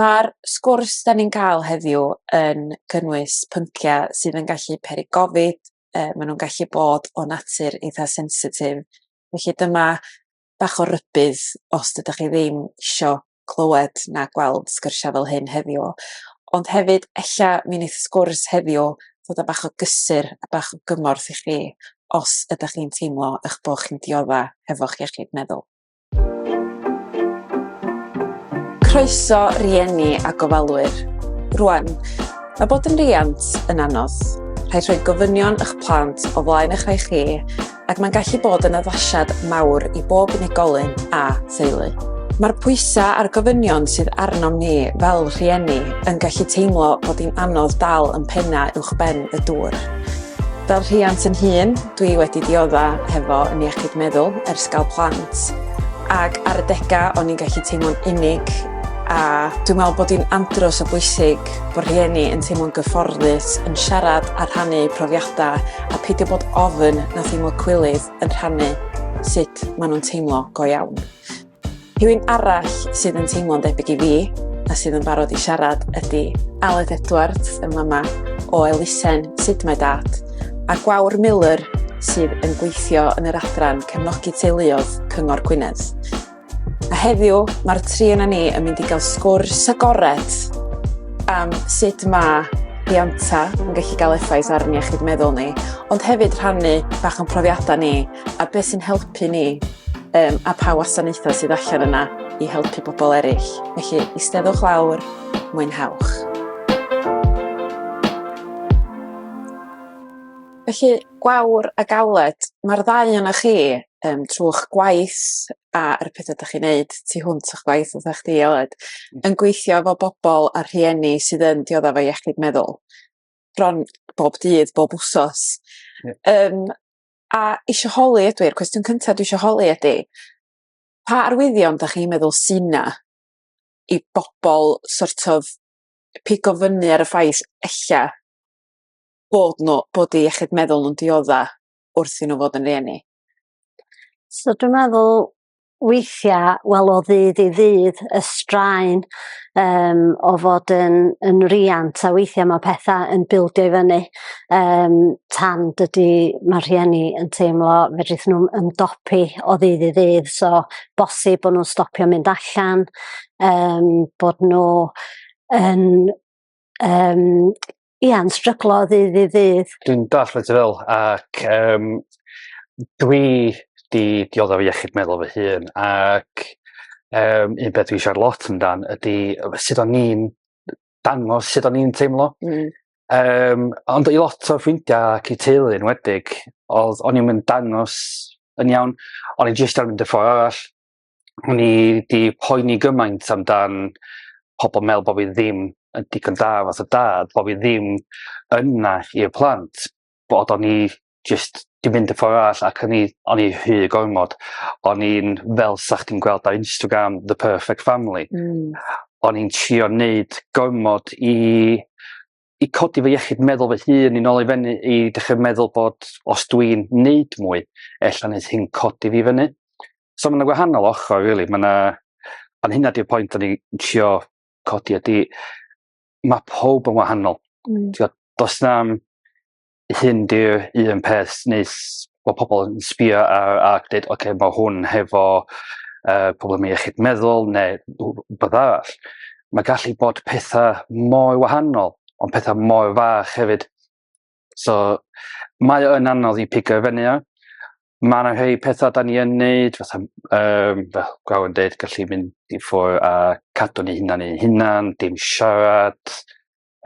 Mae'r sgwrs dan ni'n cael heddiw yn cynnwys pynciau sydd yn gallu peri gofid, yy maen nhw'n gallu bod o natur eitha' sensitif, felly dyma bach o rybudd os dydach chi ddim isio clywed na gweld sgyrsiau fel hyn heddiw, ond hefyd ella mi neith y sgwrs heddiw fod yn bach o gysur a bach o gymorth i chi os ydach chi'n teimlo 'ych bo' chi'n diodda' hefo'ch iechyd meddwl. Croeso rieni a gofalwyr. Rwan, mae bod yn riant yn anodd. Rhaid rhoi gofynion eich plant o flaen eich rhai chi ac mae'n gallu bod yn addasiad mawr i bob unigolyn a theulu. Mae'r pwysau a'r gofynion sydd arnom ni fel rhieni yn gallu teimlo bod hi'n anodd dal yn pennau uwch ben y dŵr. Fel rhiant yn hŷn, dwi wedi diodda hefo yn iechyd meddwl ers gael plant ac ar adega o'n i'n gallu teimlo'n unig a dwi'n meddwl bod hi'n andros o bwysig bod rhieni yn teimlo'n gyfforddus yn siarad a rhannu profiadau a peidio bod ofn na theimlo cwilydd yn rhannu sut maen nhw'n teimlo go iawn. Rhywun arall sydd yn teimlo'n debyg i fi a sydd yn barod i siarad ydy Aled Edwards yn mama o elusen Sut Mae Dad a Gwawr Miller sydd yn gweithio yn yr adran cefnogi teuluodd Cyngor Gwynedd. A heddiw mae'r tri yna ni yn mynd i gael sgwrs agored am sut mae rhianta yn gallu cael effaith ar ni iechyd meddwl ni, ond hefyd rhannu bach o'n profiadau ni a beth sy'n helpu ni um, a pa wasanaethau sydd allan yna i helpu pobl eraill. Felly, eisteddwch lawr, mwynhewch. Felly, gwawr a galed, mae'r ddau yna chi um, trwy'ch gwaith a'r pethau ydych chi'n neud tu hwnt o'ch gwaith oedd eich di, Eled, mm. yn gweithio efo bobl a rhieni sydd yn dioddef o iechyd meddwl bron bob dydd, bob wsos. Yeah. Um, a isio holi ydw i'r cwestiwn cynta dwi isio holi ydi pa arwyddion 'dach chi'n meddwl sy 'na i bobol sort of pigo fyny ar y ffaith ella bod n'w bod 'u iechyd meddwl nw'n diodda' wrth i n'w fod yn rieni? So dwi meddwl weithiau, wel o ddydd i ddydd, y straen um, o fod yn, yn riant a weithiau mae pethau yn bildio i fyny um, tan dydy mae rhieni yn teimlo fedrith nhw ymdopi o ddydd i ddydd. So, bosib bod nhw'n stopio mynd allan, um, bod nhw yn um, ia, yn stryglo o ddydd i ddydd. Dwi'n dall beth ti fel, ac um, dwi di dioddef fi iechyd meddwl fy hun, ac um, un beth dwi'n siarad lot amdan ydy sut o'n ni'n dangos sut o'n ni'n teimlo. Mm. Um, ond i lot o ffrindiau ac i teulu yn wedig, oedd o'n i'n mynd dangos yn iawn, o'n i'n jyst ar mynd y ffordd arall, o'n i 'di poeni gymaint amdan pobol me'wl bo' fi ddim yn digon da fath o dad bo' fi ddim yna i'r plant bod o'n i jyst 'di mynd y ffor arall ac o'n i o'n i rhy gormod o'n i'n fel 'sach chdi'n gweld ar Instagram the perfect family. Hmm. O'n i'n trio neud gormod i i codi fy iechyd meddwl fy hun i'n ôl i fyny i dechrau meddwl bod os dwi'n neud mwy, ella neud hyn codi fi fyny. So mae'n gwahanol ochr, really. Mae yna... Ond hynna di'r pwynt o'n i'n trio codi ydy, mae pob yn wahanol. Mm. Tio, dos na hyn di'r un peth nes bod pobl yn sbio ar ac dweud, oce, okay, mae hwn hefo uh, problem iechyd meddwl neu beth arall. Mae gallu bod pethau mor wahanol, ond pethau mor fach hefyd. So, mae yn anodd i pigo fyny ar. Mae yna rhai pethau da ni yn neud, fatha, um, fel gwaw yn dweud, gallu mynd i ffwr a cadw ni hunan i'n hunan, dim siarad.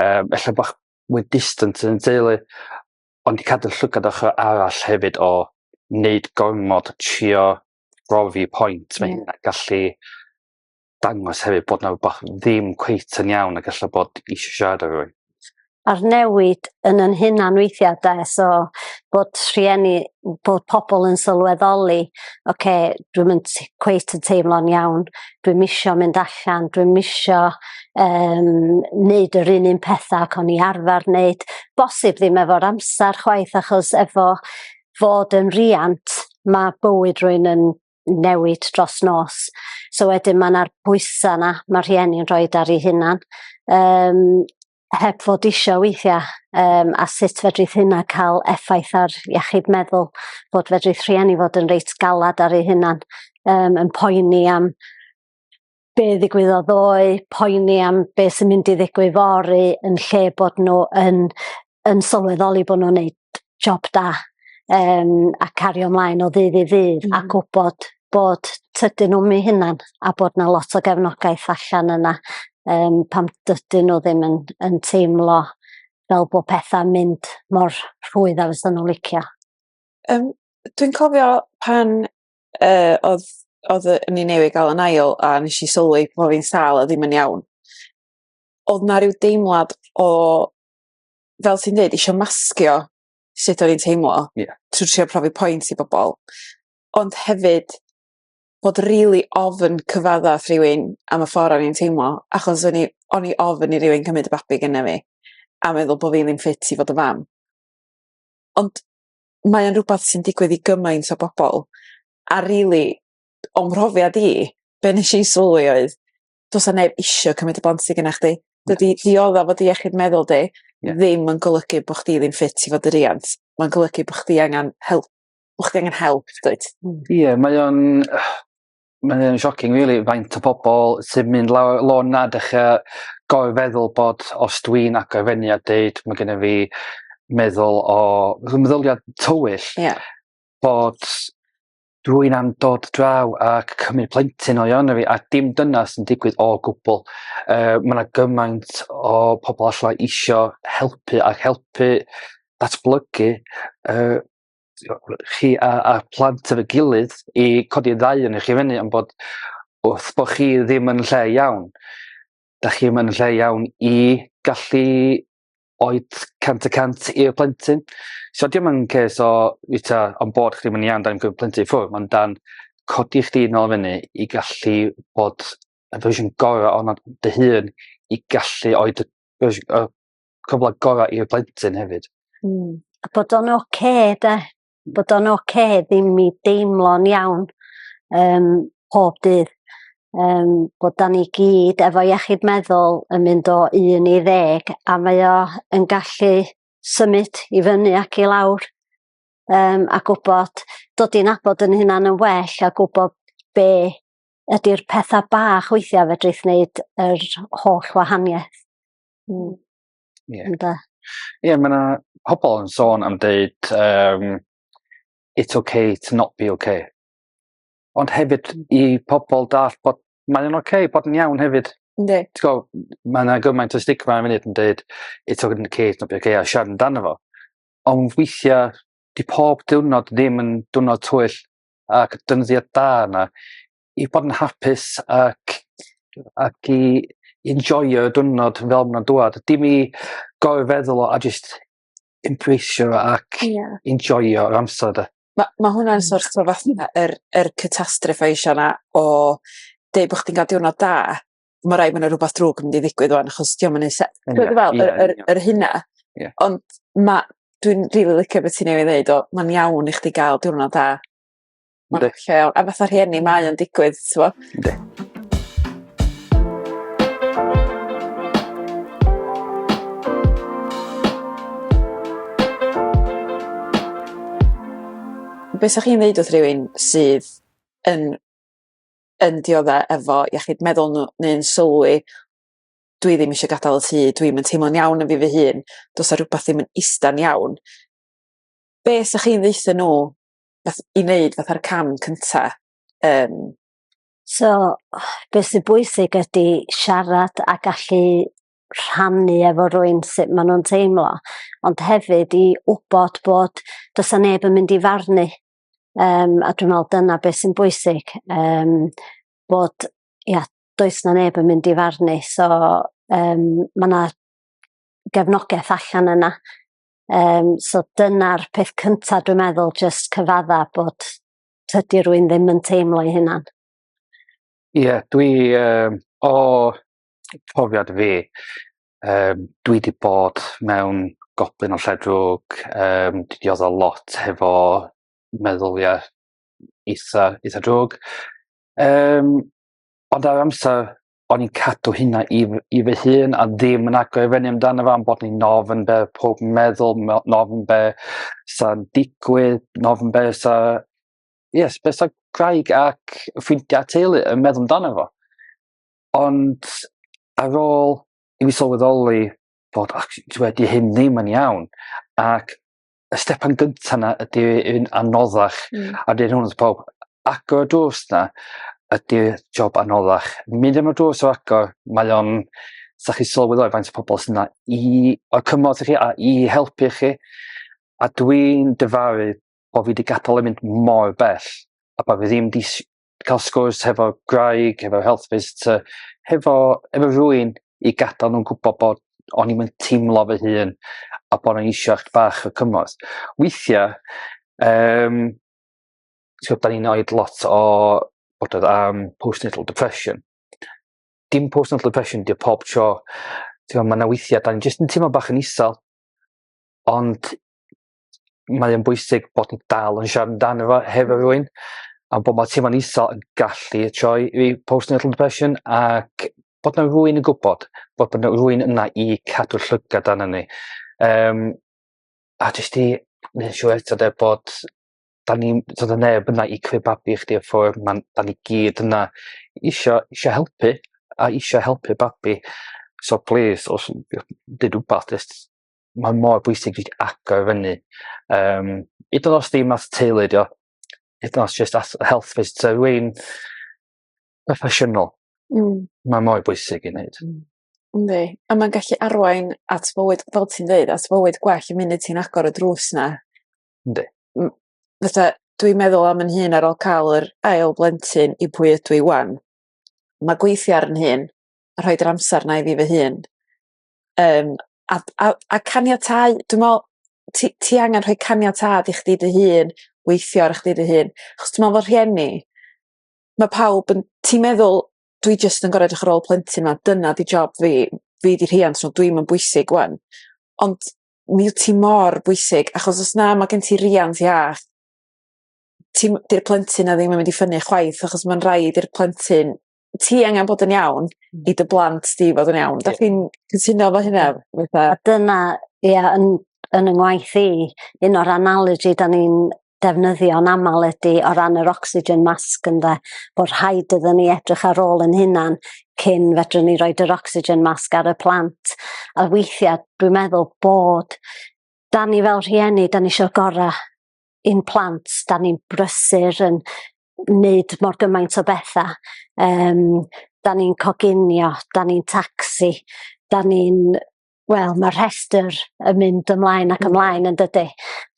Um, Efallai bod mwy distant yn teulu, ond i cadw llygad ochr arall hefyd o wneud gormod trio brofi pwynt, mae yeah. hynna'n gallu dangos hefyd bod na rhywbeth ddim cweit yn iawn ac allan bod eisiau siarad ar rwy'n. A'r newid yn yn hunan weithiau da, so bod rhieni, bod pobl yn sylweddoli, oce, okay, dwi'n mynd cweit yn teimlo'n iawn, dwi'm isio mynd allan, dwi'm isio um, neud yr un un pethau ac o'n i arfer neud. Bosib ddim efo'r amser chwaith achos efo fod yn riant mae bywyd rwy'n yn newid dros nos. So wedyn mae yna'r bwysau yna mae rhieni'n rhoi ar ei hunan. Um, heb fod isio weithiau um, a sut fedrith hynna cael effaith ar iechyd meddwl, bod fedrith rhieni fod yn reit galad ar ei hunan, um, yn poeni am be ddigwyddodd ddoe, poeni am be sy'n mynd i ddigwydd fory, yn lle bod nhw yn, yn sylweddoli bod nhw'n neud job da yym a cario mlaen o ddydd i ddydd... Hmm. ...a gwbod bod tydyn nw'm 'u hunan a bod 'na lot o gefnogaeth allan yna yym pan dydyn n'w ddim yn yn teimlo fel bo' petha'n mynd mor rhwydd a fysan n'w licio. Yym dwi'n cofio pan yy odd odd yy o'n i newydd ga'l 'yn ail a nesh i sylwi bo' fi'n sâl a ddim yn iawn odd 'na ryw deimlad o fel ti'n dweud, eisiau masgio sut o'n i'n teimlo yeah. trwy trio profi pwynt i bobl. Ond hefyd, bod rili really ofyn cyfadda wrth rywun am y ffordd o'n i'n teimlo, achos o'n i, on i ofyn i rywun cymryd y babi gyda fi, a meddwl bod fi ddim ffit i fod y fam. Ond mae'n rhywbeth sy'n digwydd i gymaint o bobl, a rili, really, o'n mhrofiad i, be nes i sylwi oedd, do's 'a neb isio cymryd y bont sy gynna chdi. Dydi diodda fod iechyd meddwl di yeah. ddim yn golygu bo' chdi ddim ffit i fod y riant. Mae'n golygu bo' chdi angen help. Bo' chdi angen help, dweud. Hmm. Ie, yeah, mae o'n... Mae'n o'n shocking, really, faint o pobl sy'n mynd lawr lôn na dechrau gofio feddwl bod os dwi'n agor fyny a dweud mae gennym fi meddwl o... Meddyliad tywyll. Ie. Yeah. Bod rwy'n am dod draw ac cymryd plentyn o iawn fi, a dim dyna sy'n digwydd o gwbl. Uh, mae yna gymaint o pobl allai isio helpu ac helpu datblygu uh, chi a, a plant efo'i gilydd i codi ddau yn eich i fyny, ond bod wrth bod chi ddim yn lle iawn, da chi ddim yn lle iawn i gallu oed 100 y cant i'r plentyn. So dim yn ces o wyta on bod chdi mynd i iawn dan gyfer plentyn ffwrdd, mae'n dan codi chdi yn ôl fyny i gallu bod y fersiwn gorau o'n dy hun i gallu oed y, y cyfle gorau i'r plentyn hefyd. Mm. A bod o'n oce okay, da. bod o'n oce ddim i deimlo'n iawn um, pob dydd. Um, bod da ni gyd efo iechyd meddwl yn mynd o un i ddeg a mae o yn gallu symud i fyny ac i lawr um, a gwybod dod i'n abod yn hynna'n yn well a gwybod be ydy'r pethau bach weithiau fedrith wneud yr holl wahaniaeth. Mm. Ie. Ynde? Ie ma' 'na pobol yn sôn am deud yym it's ok to not be ok. Ond hefyd i pobol dall' bod mae o'n oce bod yn iawn hefyd. Yndi. T'go' m- ma' 'na gymaint o stigma yn funud yn deud it's ok to not be ok a siarad amdano fo. Ond weithia' 'di pob diwrnod ddim yn diwrnod twyll ac defnyddia da yna i bod yn hapus ac ac i enjoio y diwrnod fel ma'n nhw'n dŵad. Dim i gorfod feddwl o a jyst embraceio fo ac... Ie. ...enjoio yr amser 'de? Ma' ma' hwnna'n so't of fatha yr yr catastrophization 'na o deud bo' chdi'n ga'l diwrnod da ma' raid ma' 'na rwbath drwg yn mynd i ddigwydd ŵan achos 'di o'm yn neu' se-... Ie ie ie. ...t'od be' dwi fe'wl yr yr yr hynna. Ie. Ond ma' dwi'n rili licio be' ti newydd ddeud o ma'n iawn i chdi ga'l diwrnod da. Ma'n Yndi. lleol a fatha rhieni mae o'n digwydd t'mo'? Yndi. Be' sa chi'n ddeud wrth rywun sydd yn yn diodde efo iechyd meddwl n'w neu'n sylwi dwi ddim isio gadal y tŷ dwi'm yn teimlo'n iawn yn fi fy hun do's 'a rwbath ddim yn ista'n iawn be' sa chi'n ddeutho n'w fath, i wneud fatha'r cam cynta. Um. So, beth sy'n bwysig ydy siarad a gallu rhannu efo rwy'n sut maen nhw'n teimlo, ond hefyd i wybod bod does na neb yn mynd i farnu. Um, a dwi'n meddwl dyna beth sy'n bwysig, um, bod ia, does na neb yn mynd i farnu. So, um, mae yna gefnogaeth allan yna Um, so dyna'r peth cyntaf dwi'n meddwl, just cyfadda bod tydi rwy'n ddim yn teimlo ei hunan. Ie, yeah, dwi um, o profiad fi, um, dwi wedi bod mewn goblin o lledrwg, um, dwi wedi oddol lot hefo meddyliau eitha, eitha drwg. Um, ond ar amser o'n i'n cadw hynna i fy i fy hun a ddim yn agor i fyny amdano fo am bod ni'n ofn be' odd powb yn meddwl ma' o'n ofn be' sa'n digwydd ma' ofn be' sa ie s- be' sa gwraig ac ffrindia a teulu yn meddwl amdano fo. Ond ar ôl i mi sylweddoli bod actually dyw e 'di hyn ddim yn iawn ac y stepan gyntaf yna ydy un anoddach, mm. a dyn hwnnw pob agor y drws yna ydy job anoddach. Mynd am y drws o agor, mae o'n, sa chi sylweddol i faint o pobl sy'n yna i, o'r cymorth i chi a i helpu chi. A dwi'n dyfaru bod fi wedi gadael yn mynd mor bell a bod fi ddim wedi cael sgwrs hefo graig, hefo health visitor, hefo, hefo rwy'n i gadael nhw'n gwybod bod o'n i'n teimlo fy hun a bod o'n eisiau eich bach o cymorth. Weithiau, um, so, da ni'n oed lot o bod oedd am postnatal depression. Dim postnatal depression, dim pob tro. Mae yna weithiau, da ni'n jyst yn teimlo bach yn isel, ond mae o'n bwysig bod yn dal yn siarad amdano fo hefo rwy'n a bod mae teimlo'n isol yn gallu troi i postnatal depression ac bod na rwy'n yn gwybod bod bod rwy'n yna i cadw llygad arno ni. Um, a jyst i wneud siŵr eto de bod da ni so da neb yna i creu babi chdi a ffwr ma'n da ni gyd yna isio isio helpu a isio helpu babi so plîs os did wbath jyst mae mor bwysig i agor i fyny. Um, I dod os dim at teulu, dio. I dod os just at health visit. So rwy'n proffesiynol. Mm. Mae mor bwysig i wneud. Mm. Ne, a mae'n gallu arwain at fywyd, fel ti'n dweud, at fywyd gwell y munud ti'n agor y drws na. Ynddi. Fytha, dwi'n meddwl am yn hun ar ôl cael yr ail blentyn i pwy ydw i wan. Mae gweithio ar yn hun, a rhoi'r amser na i fi fy hun, Yym a d- a a caniatáu dwi me'wl ti ti angan rhoi caniatâd i chdi dy hun weithio ar chdi dy hun achos dwi me'wl bo' rhieni ma' pawb yn ti'n meddwl dwi jyst yn gor'o' edrych ar ôl plentyn 'ma dyna 'di job fi fi 'di rhiant so dwi'm yn bwysig ŵan ond mi wt ti mor bwysig achos os na ma' gen ti riant iach ti'm 'di'r plentyn 'na ddim yn mynd i ffynnu chwaith achos ma'n raid i'r plentyn ti angen bod yn iawn hmm. i dy blant di fod yn iawn. Dach chi'n cytuno fo hynna? Fatha... A dyna, ia, yn, yn y ngwaith i, un o'r analogy da ni'n defnyddio yn aml ydy o ran yr oxygen mask ynde, bod rhaid iddyn ni edrych ar ôl yn hunan cyn fedrwn ni roed yr oxygen mask ar y plant. A weithiau dwi'n meddwl bod da ni fel rhieni, da ni eisiau gorau i'n plant, da ni'n brysur yn wneud mor gymaint o bethau. Um, da ni'n coginio, da ni'n taxi, da ni'n... Wel, mae rhestr yn mynd ymlaen ac ymlaen yn dydy.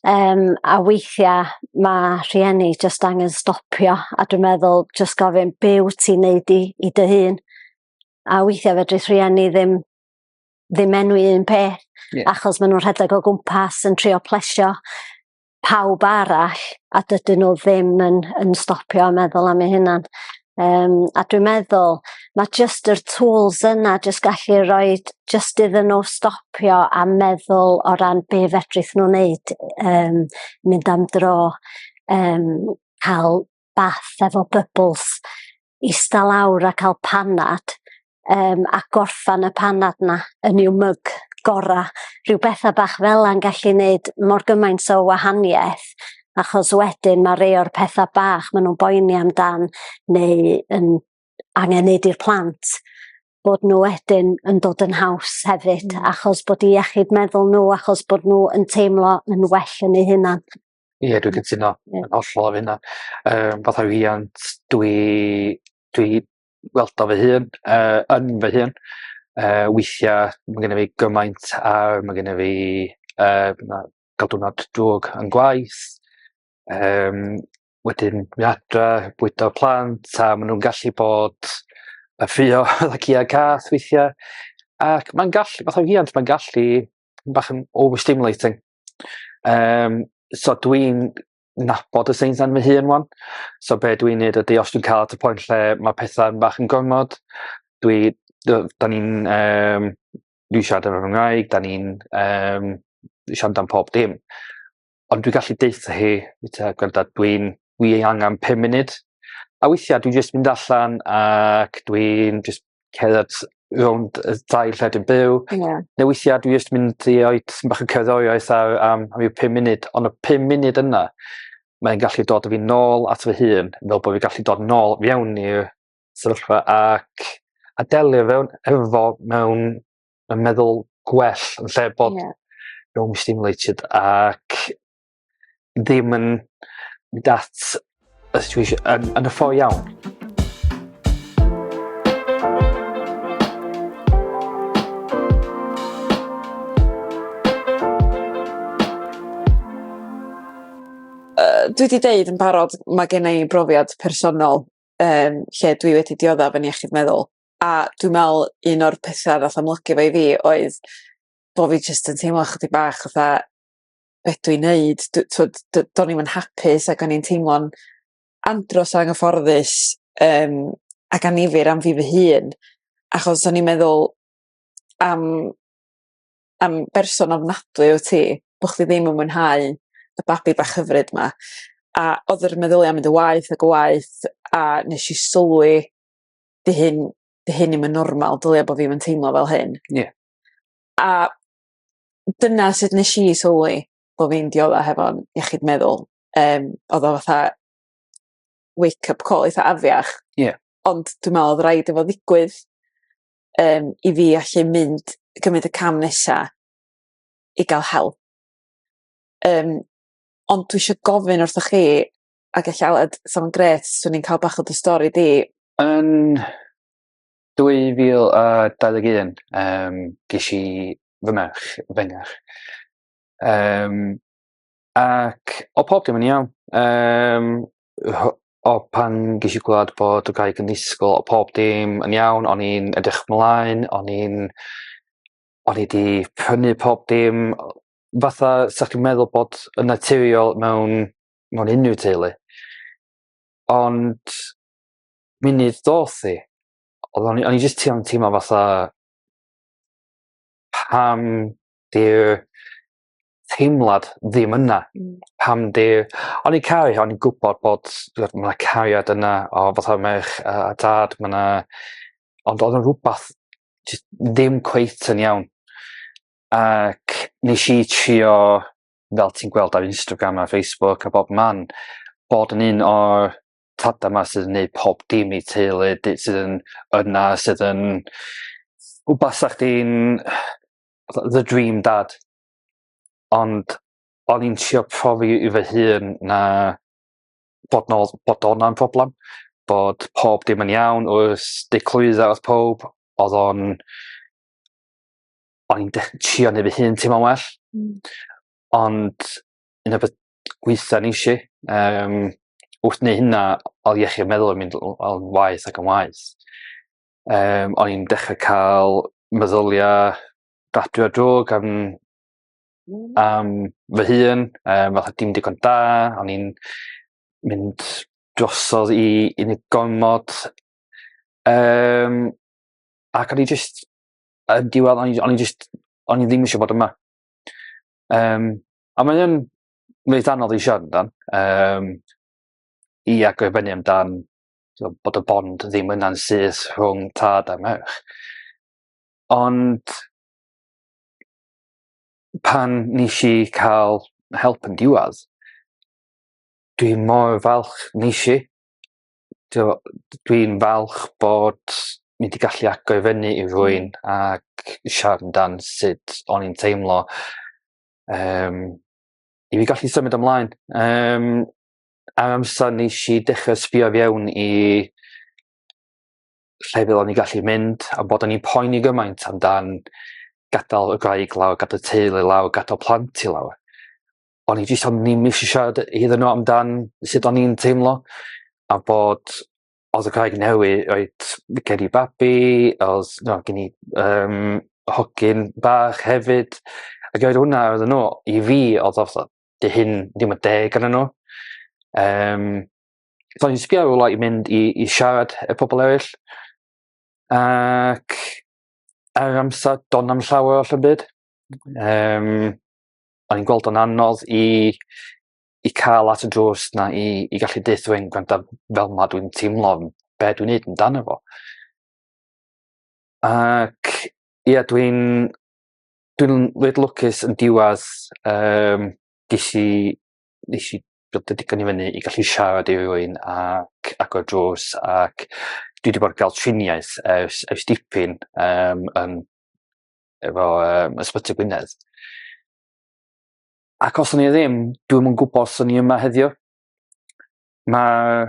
Um, a weithiau mae rhieni jyst angen stopio a dwi'n meddwl jyst gofyn be wyt ti'n neud i, i dy hun. A weithiau fedrith rhieni ddim ddim enwi un peth yeah. achos maen nhw'n rhedeg o gwmpas yn trio plesio pawb arall a dydyn nhw ddim yn, yn stopio a meddwl am ei hunan. Um, a dwi'n meddwl, mae jyst yr tools yna jyst gallu rhoi jyst iddyn nhw stopio a meddwl o ran be fedrith nhw'n neud, um, mynd am dro, um, cael bath efo bybls, ista lawr a cael panad um, a gorffan y panad na yn i'w myg gora. Rhyw bethau bach fel yna'n gallu gwneud mor gymaint o wahaniaeth achos wedyn mae rei o'r pethau bach maen nhw'n boeni amdan neu yn angen neud i'r plant bod nhw wedyn yn dod yn haws hefyd mm. achos bod i iechyd meddwl nhw achos bod nhw yn teimlo yn well yn eu hunan. Ie dwi cytuno yn hollol ar hynna yym fatha rhiant dwi dwi weld o fy hun yy yn fy hun yy weithia' ma' gynno fi gymaint a ma' gynno fi yy na ga'l diwrnod drwg yn gwaith yym wedyn myn' adra bwydo plant a ma' nw'n gallu bod yy ffrio fatha cïa cath weithia' ac ma'n gallu fatha rhiant ma'n gallu bach yn overstimulating. Um, so dwi'n nabod y Saints yn fy hun wan. So be dwi'n neud ydy os dwi'n cael at y pwynt lle mae pethau'n bach yn gormod, dwi, da ni'n, um, dwi siarad yn fy Nghymraeg, da ni'n um, siarad am pob dim. Ond dwi'n gallu deitha hi, gwranda, dwi'n, dwi ei angen 5 munud. A weithiau dwi'n just mynd allan ac dwi'n just cerdded rownd y ddau lledyn byw. Ie. Ne' weithia' dwi jyst mynd i roi tipyn bach o cerddoriaeth ar am ryw pum munud on' y pum munud yna mae'n gallu dod a fi nôl at fy hun fel bo' fi gallu dod nôl fewn i'r sefyllfa ac a delio fewn efo fo mewn yn meddwl gwell yn lle bod... Ie. ...mewn stimulated ac ddim yn mynd at y situation yn yn y ffo iawn. dwi 'di deud yn barod ma' gennai i brofiad personol um, lle dwi wedi dioddef yn iechyd meddwl a dwi'n meddwl un o'r pethau ddath amlygu fo i fi oedd bod fi jyst yn teimlo chydig bach fatha be' dwi neud dw- t'od do- do'n i'm yn hapus ag o'n i'n teimlo'n andros o anghyfforddus yym ac annifyr am fi fy hun achos o'n i'n meddwl am am berson ofnadwy wt ti bo' chdi ddim yn mwynhau y babi bach hyfryd 'ma a odd yr meddylia' mynd yn waeth ag yn waeth a nesh i sylwi 'di hyn 'di hyn 'im yn normal dylia bo' fi'm yn teimlo fel hyn. Ie. A dyna sut nesh i sylwi bo' fi'n diodde hefo'n iechyd meddwl yym odd o fatha wake up call eitha afiach. Ie. Ond dwi me'wl odd raid i fo ddigwydd yym i fi allu mynd cymryd y cam nesa i ga'l help. Yym ond dwi isio gofyn wrthoch chi ag ella odd sa fo'n grêt swn i'n ca'l bach o dy stori di. Yn 2021 yym gesh i fy merch fy ngach. Yym ac odd pob dim yn iawn yym ho- o pan gesh i glwad bod y gwraig yn disgwl o' pob dim yn iawn o'n i'n edrych mlaen o'n i'n o'n i 'di prynu pob dim o- fatha sa chi'n meddwl bod yn naturiol mewn mewn unryw teulu ond munud doth i, oedd o'n i, o'n i jyst yn teimlo fatha pam di'r teimlad ddim yna. Mm. Pam di'r... O'n i'n caru, o'n i'n gwybod bod mae yna cariad yna o fatha merch a, a dad, mae yna... Ond oedd yn rhywbeth ddim cweit yn iawn. Ac nes i trio, fel ti'n gweld ar Instagram a Facebook a bob man, bod yn un o'r tada 'ma sydd yn neud pob dim i teulu dy- sydd yn yna sydd yn w basa chdi'n fatha the dream dad ond o'n i'n trio profi i fy hun na bod 'na odd bod wnna'n problem bod pob dim yn iawn oes dy clwydda o'dd powb odd o'n o'n i'n dech- trio neu fy hun teimlo'n well. Hmm. Ond un o be' weithiau ni eisiau. Um, wrth neu hynna, oedd iechyd meddwl yn mynd o'n waith ac yn waith. Um, o'n i'n dechrau cael meddyliau gadw a drog am, am fy hun, um, fatha dim digon da, o'n i'n mynd drosodd i unigolmod. Um, ac o'n i jyst, yn diwedd, o'n i, on i jyst, o'n i ddim eisiau bod yma. Um, A mae yn reit anodd i siarad amdan yym i agor i fyny amdan t'wo' bod y bond ddim yna'n syth rhwng tad a merch ond pan nesh i ca'l help yn diwadd dwi mor falch nesh i t'wo' d- dwi'n falch bod ni 'di gallu agor i fyny i rywun ac siarad amdan sut o'n i'n teimlo um, i fi gallu symud ymlaen. Um, am amser nes i dechrau sbio fiewn i lle fel o'n i gallu mynd a bod o'n i'n poeni gymaint amdan gadael y graig lawr, gadael y teulu lawr, gadael plant i lawr. O'n i jyst am ddim eisiau siarad iddyn nhw amdan sut o'n i'n teimlo a bod os y craig newid reit fi credu babi os na gen i yym hogyn bach hefyd a roedd hwnna oedden n'w i fi odd o fatha 'di hyn ddim yn deg arnyn n'w yym so o'n i'n sbio rwla i mynd i i siarad â pobol eryll ac ar yr amsar do' na'm llawer o 'llym byd yym o'n i'n gweld o'n anodd i i cael at y drws na i, i gallu dweud dwi'n gwrando fel mae dwi'n teimlo be dwi'n neud yn dan efo. Ac ie yeah, dwi'n dwi'n lwyd lwcus yn diwedd um, ges i nes i bod y digon i fyny i gallu siarad i rywun ac agor drws ac dwi wedi bod yn cael triniaeth ers, ers dipyn um, yn, efo um, Ysbyty Gwynedd. ac os o'n i ddim, dwi'm yn gwybod os o'n i yma heddiw. Mae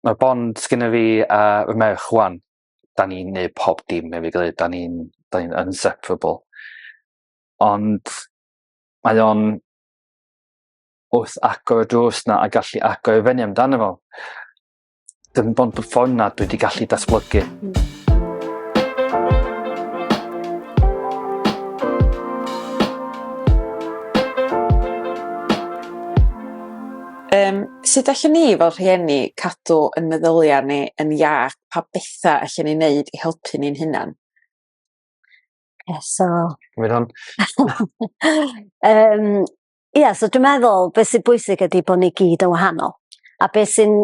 ma bond sgynna fi a fy merch wan. Da ni'n neud pob dim efo'i gilydd. Da ni'n da ni'n inseparable. Ond mae o'n wrth agor y drws 'na a gallu agor i fyny amdano fo. dim ond y ffordd na dwi wedi gallu datblygu. Mm. Um, sut allan ni fel rhieni cadw yn meddyliau ni yn iach pa bethau allan ni'n neud i helpu ni'n hunan? Yeah, so... Gwyd hwn. um, Ia, so dwi'n meddwl beth sy'n bwysig ydy bod ni gyd yn wahanol. A beth sy'n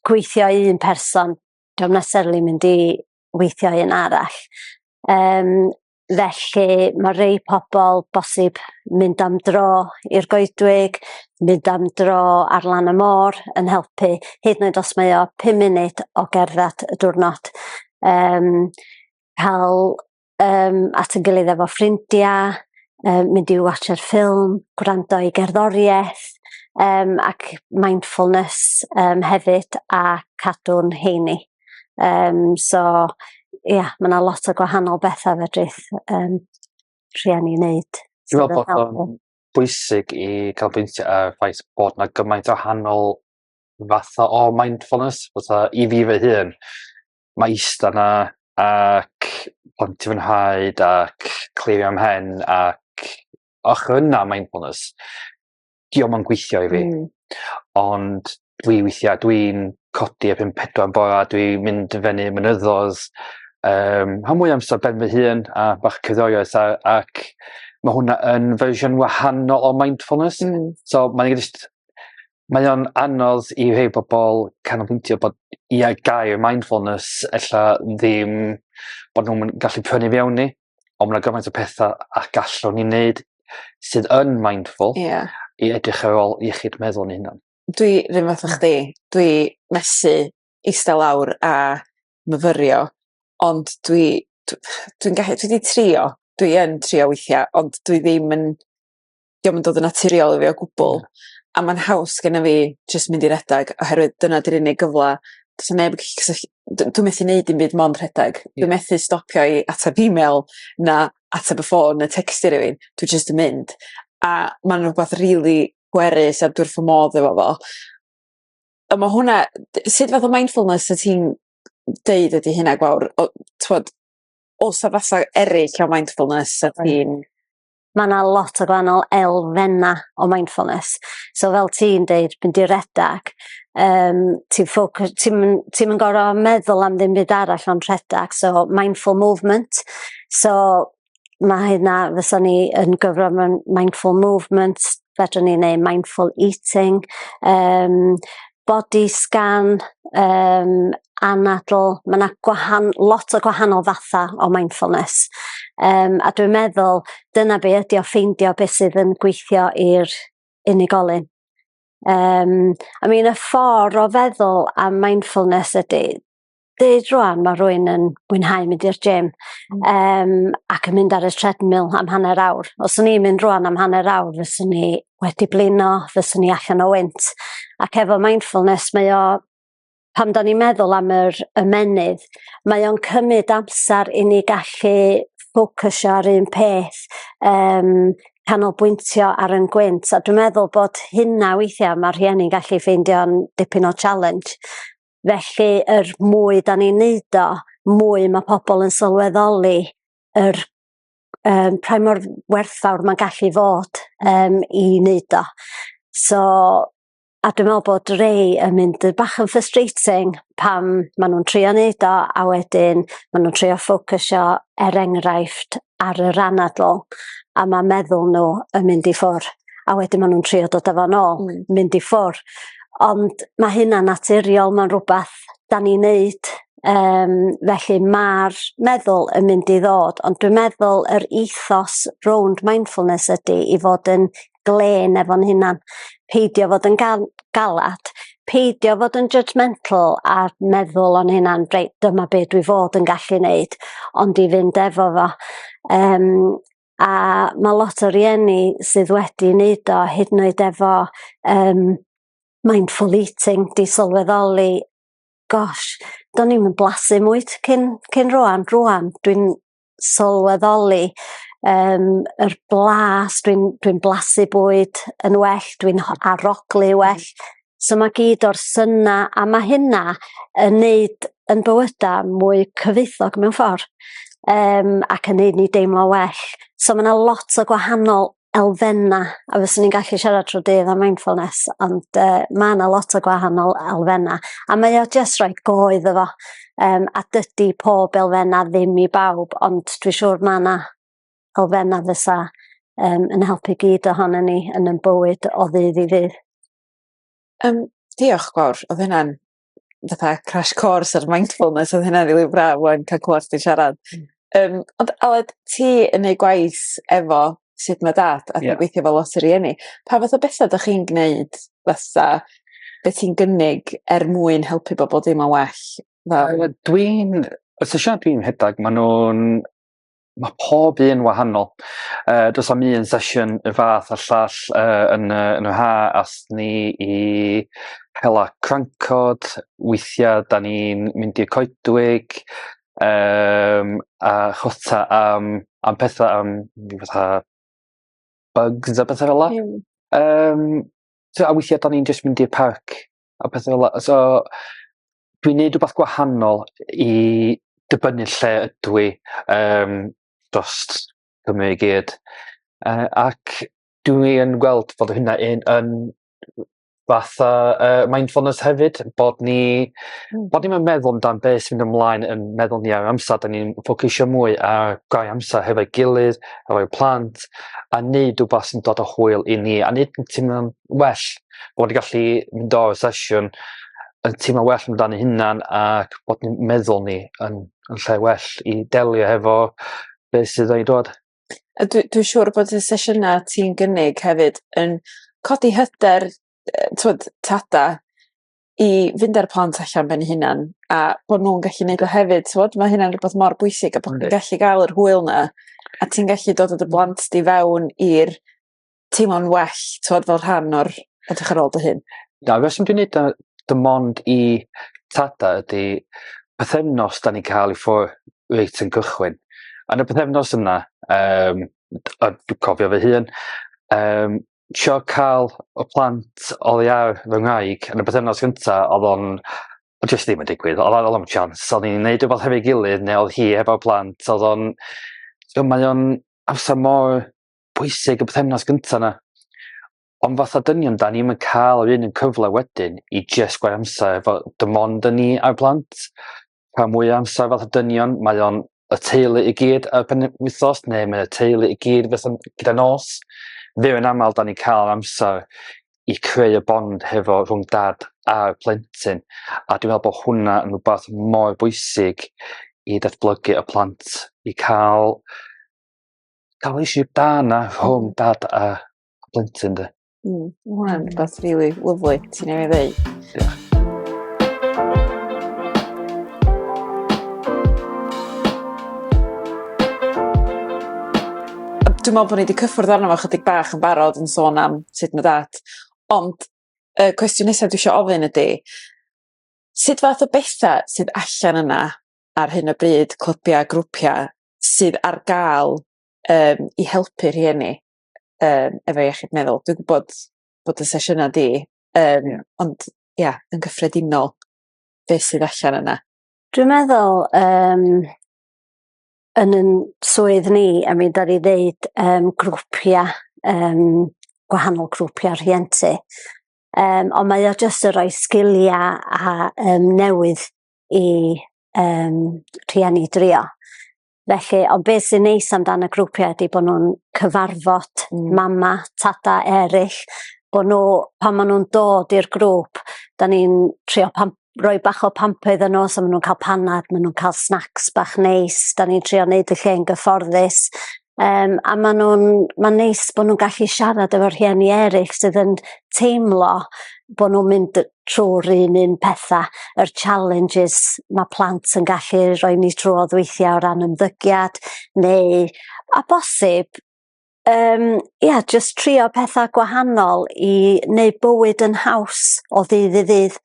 gweithio i un person, dwi'n necessarily mynd i weithio i un arall. Um, felly mae rei pobl bosib mynd am dro i'r goedwig, mynd am dro ar lan y môr yn helpu, hyd yn oed os mae o 5 munud o gerdded y diwrnod. Um, cael um, at y gilydd efo ffrindiau, um, mynd i watcher ffilm, gwrando i gerddoriaeth, um, ac mindfulness um, hefyd a cadw'n heini. Um, so, ia, yeah, mae yna lot o gwahanol bethau fedrith um, rhieni wneud. Dwi'n meddwl bod o'n bwysig i cael bwyntio ar ffaith bod yna gymaint o hanol fatha o mindfulness, fatha i fi fy hun, ma' ista 'na ac pontio fy nhraed ac clirio mhen ac och yna mindfulness 'dio'm yn gweithio i fi. Hmm. Ond dwi weithia' dwi'n codi erbyn pedwar yn bora dwi mynd i fyny mynyddo'dd yym rhan fwya amsar ben fy hun a bach cerddoriaeth a ac ma' hwnna yn fersiwn wahanol o mindfulness. Hmm. So mae jyst mae o'n anodd i rhei pobol canolbwyntio bod i ar gael mindfulness ella ddim bo' nw'm yn gallu prynu fewn i on' ma' gymaint o petha a gallwn ni neud sydd yn mindful. Ia. I edrych ar ôl iechyd meddwl ni hunan. Dwi 'r un fath â chdi dwi methu ista lawr a myfyrio ond dwi dw- dwi'n gallu dwi 'di trio dwi yn trio weithia' ond dwi ddim yn 'dio'm yn dod yn naturiol i fi o gwbwl a ma'n haws gennyf fi jyst mynd i redag oherwydd dyna 'di'r unig gyfla do's 'a neb yn gallu cysyll- d- dwi methu neud dim byd mond rhedag. Dwi methu stopio i atab email na atab y ffôn ne' tecsio rywun dwi jyst yn mynd a ma'n rwbath rili pwerus a dwi wrth fy modd efo fo. A ma' hwnna d- sud fath o mindfulness wyt ti'n deud ydi hynna gwawr o t'wod o's 'a fatha eryll o mindfulness 'sa ti'n mae yna lot o gwahanol elfennau o mindfulness. So fel ti'n deud, mynd i redag, um, ti'n ffocws, ti'n ti yn gorau meddwl am ddim byd arall ond rhedeg, so mindful movement. So mae hynna, fysa ni yn gyfro mewn mindful movement, fedrwn ni neu mindful eating, um, body scan, um, anadl. Mae yna gwahan, lot o gwahanol fatha o mindfulness. Um, a dwi'n meddwl, dyna be ydi o ffeindio beth sydd yn gweithio i'r unigolyn. Um, I mean, y ffordd o feddwl am mindfulness ydy, deud rwan mae rwy'n yn mwynhau mynd i'r gym mm. um, ac yn mynd ar y treadmill am hanner awr. Os o'n i'n mynd rwan am hanner awr, fyswn ni wedi blino, fyswn ni allan o wynt. Ac efo mindfulness mae o, pam da ni'n meddwl am yr ymenydd, mae o'n cymryd amser i ni gallu ffocysio ar un peth, um, canolbwyntio ar yn gwynt. A dwi'n meddwl bod hynna weithiau mae rhieni'n gallu ffeindio'n dipyn o challenge Felly yr mwy da ni'n neud o, mwy ma' pobol yn sylweddoli yr yym pa mor werthfawr ma'n gallu fod yym i neud o. So a dwi me'wl bod rei yn mynd yy bach yn frustrating pan ma' nw'n trio neud o a wedyn ma' nw'n trio ffocysio er enghraifft ar yr anadl a ma' meddwl nhw yn mynd i ffwr' a wedyn ma' nw'n trio dod â fo nôl. Hmm. Mynd i ffwr'. Ond ma' hynna'n naturiol ma'n rwbath 'dan ni'n neud yym felly ma'r meddwl yn mynd i ddod ond dwi'n meddwl yr ethos rownd mindfulness ydi i fod yn glên efo'n hunan, peidio fod yn gal- galad, peidio fod yn judgemental a meddwl o'n hunan reit dyma be' dwi fod yn gallu neud ond i fynd efo fo yym a ma' lot o rieni sydd wedi neud o hyd yn oed efo yym mindful eating 'di sylweddoli gosh do'n i'm yn blasu 'im mwy t- cyn cyn rŵan rŵan dwi'n sylweddoli um, yr blas, dwi'n dwi, blasu bwyd yn well, dwi'n aroglu mm. well. So mae gyd o'r syna, a mae hynna yn neud yn bywyda mwy cyfeithog mewn ffordd, um, ac yn neud ni deimlo well. So mae yna lot o gwahanol elfennau, a fyswn ni'n gallu siarad trwy dydd am mindfulness, ond uh, mae yna lot o gwahanol elfennau, a mae o jyst rhoi goedd efo, um, a dydy pob elfennau ddim i bawb, ond dwi'n siŵr mae yna elfennau fysa um, yn helpu gyd ohono ni yn yn bywyd o ddydd i ddydd. Um, diolch, Gwawr, oedd hynna'n fatha crash course ar mindfulness odd hynna rili braf ŵan ca'l clŵad chdi'n siarad. Hmm. Yym ond Aled ti yn neud gwaith efo sut ma' dat a... Ie. ...ti'n gweithio efo lot o rieni pa fath o betha 'dach chi'n gneud fatha be' ti'n gynnig er mwyn helpu bobol deimlo'n well fel... Yy dwi'n os y siart dwi'n rhedag ma' nw'n mae pob un wahanol. Uh, does am un sesiwn y fath a llall uh, yn, uh, yn y ha as ni i hela crancod, weithiau da ni'n mynd i'r coedwig, um, a chwta am, am pethau am fatha bugs a bethau fel la. Mm. Um, so, a weithiau da ni'n just mynd i'r parc a pethau fel la. So, dwi'n neud rwbath gwahanol i dibynnu lle ydw i um, dost Cymru i gyd. Uh, ac dwi yn gweld fod hynna yn, yn fatha uh, mindfulness hefyd, bod ni, mm. bod ni'n meddwl amdan beth sy'n mynd ymlaen yn meddwl ni ar amser, da ni'n ffocusio mwy ar gau amser hefo'i gilydd, hefo'i plant, a neud rhywbeth sy'n dod o hwyl i ni, a neud yn teimlo'n well bod ni'n gallu mynd o'r sesiwn yn teimlo well amdan ei hunan ac bod ni'n meddwl ni yn yn lle well i delio hefo beth sydd wedi dod. A dwi dwi siŵr bod y sesiyna ti'n gynnig hefyd yn codi hyder yy t'wod tada i fynd â'r plant allan ben 'u hunan a bo' nw'n gallu neud o hefyd t'wod ma' hynna'n rwbath mor bwysig a bo' chdi'n gallu ga'l yr hwyl 'na a ti'n gallu dod â dy blant di fewn i'r teimlo'n well, tywed, fel rhan o'r edrych ar ôl dy hyn? Na, fe sy'n dwi'n neud dy mond i tada ydy pethefnos da ni'n cael ei ffwr reit yn gychwyn. Yn y pethefnos yna, um, a dwi'n cofio fy hun, um, sio cael y plant oddi ar fy nghaig yn y pethefnos gyntaf, oedd o'n o jyst ddim yn digwydd, oedd ar ôl chans, oedd ni'n neud rhywbeth hefo'i gilydd, neu oedd hi hefo'r plant, oedd o'n, so mae o'n amser mor pwysig y bythefnos gyntaf na. Ond fatha dynion, da ni'n cael yr un yn cyfle wedyn i just gwaith amser efo dim ond yn ni a'r plant. Pa mwy amser fatha dynion, mae o'n y teulu i gyd ar pen wythos, neu mae y teulu i gyd fyth yn gyda nos. Fe yn aml, da ni'n cael amser i creu y bond hefo rhwng dad a'r plentyn. A dwi'n meddwl bod hwnna yn rhywbeth mor bwysig i datblygu y plant, i cael cael eisiau da na rhwng dad a plentyn de. Mm, mae hwnna'n rhywbeth rili really lyflu ti'n ei ddweud. Diolch. Dwi'n meddwl bod ni wedi cyffwrdd arno fo chydig bach yn barod yn sôn am sut mae dad. Ond y uh, cwestiwn nesaf dwi eisiau ofyn ydy, sut fath o bethau sydd allan yna ar hyn o bryd, clybiau, grwpiau, sydd ar gael um, i helpu rhieni um, efo iechyd meddwl. Dwi'n gwybod bod y sesiynau di, um, yeah. ond ia, yeah, yn gyffredinol, beth sydd allan yna? Dwi'n meddwl, um, yn yn swydd ni, a mi da ni ddeud um, grwpiau, um, gwahanol grwpiau rhientu, um, ond mae o jyst yn rhoi sgiliau a um, newydd i um, rhieni drio. Felly, ond beth sy'n neis amdano y grwpiau ydy bod nhw'n cyfarfod mm. mama, tata eraill, bod nhw, pan maen nhw'n dod i'r grŵp, da ni'n trio pam, roi bach o pampoedd yn os, a maen nhw'n cael panad, maen nhw'n cael snacks bach neis, da ni'n trio wneud y lle yn gyfforddus, Um, a maen nhw'n, mae'n neis bod nhw'n gallu siarad efo'r rhieni eraill sydd yn teimlo bod nhw'n mynd trwy'r un un petha, yr challenges ma' plant yn gallu roi ni trwodd weithia' o ran ymddygiad neu a bosib yym ia jyst trio petha gwahanol i neu' bywyd yn haws o ddydd i ddydd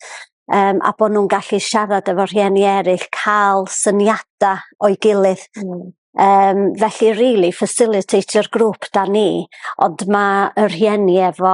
yym a bo' nw'n gallu siarad efo rhieni eryll ca'l syniada o'i gilydd. Hmm. Yym felly rili facilitator grŵp 'dan ni ond ma' y rhieni efo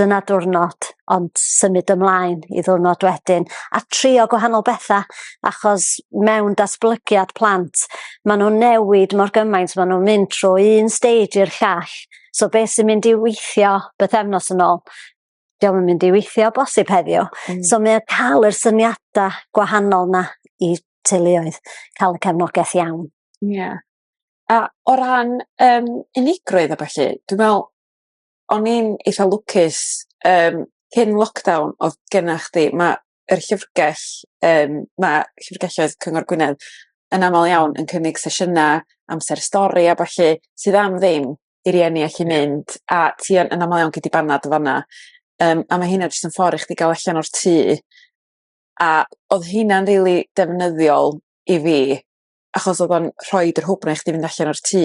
dyna diwrnod ond symud ymlaen i ddiwrnod wedyn a trio gwahanol betha achos mewn datblygiad plant ma' nw'n newid mor gymaint ma' nw'n mynd trwy un stage i'r llall so be' sy'n mynd i weithio bythefnos yn ôl 'di o'm yn mynd i weithio bosib heddiw. Hmm. So mae o ca'l yr syniada gwahanol 'na i teuluoedd ca'l y cefnogeth iawn. Ie. A o ran yym unigrwydd a ballu dwi me'wl o'n i'n eitha lwcus yym cyn lockdown o'dd genna chdi ma' yr llyfrgell yym ma' llyfrgelloedd Cyngor Gwynedd yn amal iawn yn cynnig sesiyna amser stori a ballu sydd am ddim i rieni allu mynd a ti yn yn amal iawn gei di banad yn fanna yym a ma' hynna jyst yn ffor i chdi ga'l allan o'r tŷ a o'dd hynna'n rili defnyddiol i fi achos o'dd o'n rhoid yr hwb 'na i chdi fynd allan o'r tŷ.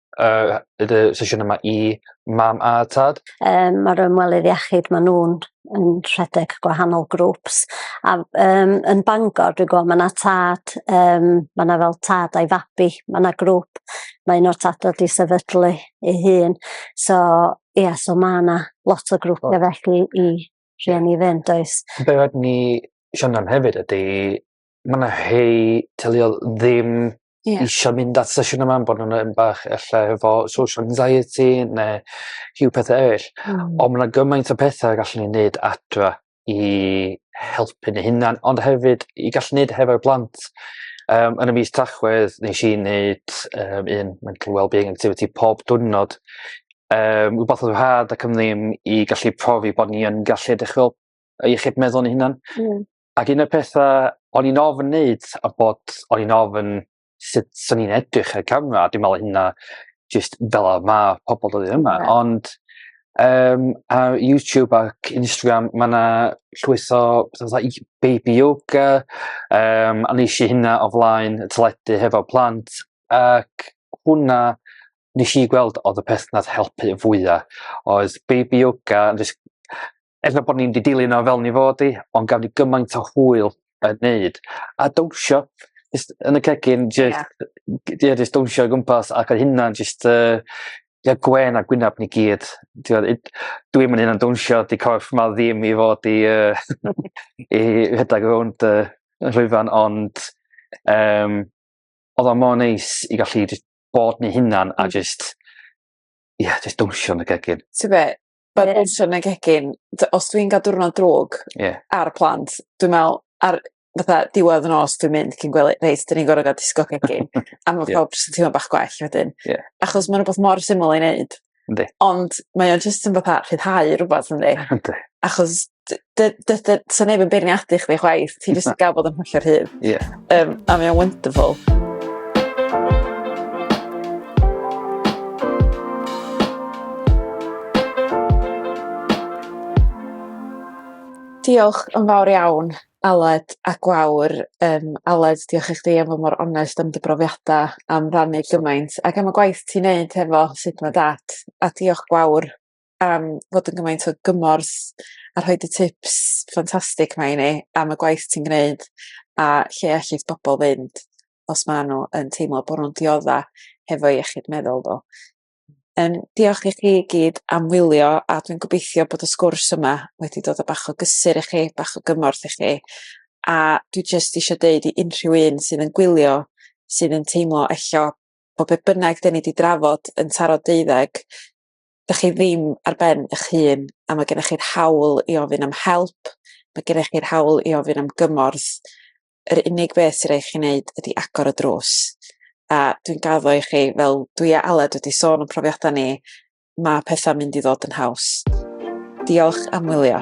uh, y sesiwn yma i mam a tad? Um, Mae'r ymwelydd iechyd, maen nhw'n yn rhedeg gwahanol grwps. A um, yn Bangor, dwi'n gwybod, mae yna tad, um, mae yna fel tad a'i fabi, mae yna grŵp, mae un o'r tad wedi sefydlu ei hun. So, ie, yeah, so mae yna lot o grwpiau oh. felly i rhieni fynd, oes. Be wedyn ni siarad am hefyd ydy ma' 'na rhei teuluodd ddim... Ie. ...isio mynd at sesiwn yma am bo' nw'n yym bach e'lla efo social anxiety ne' rhyw pethe eryll. Hmm. On' ma' 'na gymaint o pethe y gallwn ni neud adra i helpu ni hunan ond hefyd i gallu neud hefo'r plant yym yn y mis Tachwedd nesh i neud yym un mental wellbeing activity pob diwrnod yym rwbath o'dd yn rhad ac am ddim i gallu profi bo' ni yn gallu edrych fel yy iechyd meddwl 'yn hunan. Hmm. Ac un o'r pethau o'n i'n ofyn wneud a bod o'n i'n ofyn sut sy'n ni'n edrych ar y camera, a dwi'n meddwl hynna just fel ar ma pobl dod yma, yeah. ond um, ar YouTube ac Instagram mae yna llwyth o like, baby yoga, um, a nes i hynna o flaen y teledu hefo plant, ac hwnna nes i gweld oedd y peth nath helpu fwyaf, oedd baby yoga, just er bod ni'n di dilyn o fel ni fod i, ond gaf ni gymaint o hwyl yn neud. A dawnsio, just yn y cegin, just, yeah. yeah, just dawnsio o gwmpas, ac oedd hynna just, uh, yeah, gwen a gwynaf ni gyd. Dwi'n mynd hynna'n dawnsio, di corff ma ddim i fod i, uh, i rhedeg rownd uh, rhwyfan, ond um, oedd o'n mor neis i gallu bod ni hynna'n a mm. just, yeah, just dawnsio yn y gegin. Ti'n be, But yeah. also yn y gegin, os dwi'n gael diwrnod drwg yeah. ar y plant, dwi'n meddwl, ar fatha diwedd yn os dwi'n mynd cyn gwely, reit, dyn ni'n gorau gael disgo gegin, a mae yeah. pawb sy'n teimlo bach gwell wedyn. Yeah. Achos mae'n rhywbeth mor syml i wneud. Yndi. Ond mae o'n jyst yn fatha rhyddhau rhywbeth yndi. Yndi. Achos dy- dy- dy- dy- sa neb yn beirniadu chdi chwaith ti jyst yn ga'l bod yn hollol rhydd. Ie. Yym a mae o'n wonderful. Diolch yn fawr iawn Aled a Gwawr yym Aled diolch i chdi am fod mor onest am dy brofiada am rannu gymaint ac am y gwaith ti'n neud hefo sut ma' dat a diolch Gwawr am fod yn gymaint o gymorth a rhoid y tips ffantastig 'ma i ni am y gwaith ti'n gneud a lle ellith bobol fynd os ma' n'w yn teimlo bo' nw'n diodda hefo iechyd meddwl n'w. Yym diolch i chi i gyd am wylio a dwi'n gobeithio bod y sgwrs yma wedi dod â bach o gysur i chi bach o gymorth i chi a dwi jyst isio deud i unrhyw un sydd yn gwylio sydd yn teimlo e'lla bo' be' bynnag 'dyn ni 'di drafod yn taro deuddeg dych chi ddim ar ben eich hun a mae gennych chi'r hawl i ofyn am help, mae gennych chi'r hawl i ofyn am gymorth, yr unig beth sy'n rhaid chi wneud ydy agor y drws. A dwi'n gaddo i chi, fel dwi a Aled wedi sôn yn profiadau ni, mae pethau'n mynd i ddod yn haws. Diolch am wylio.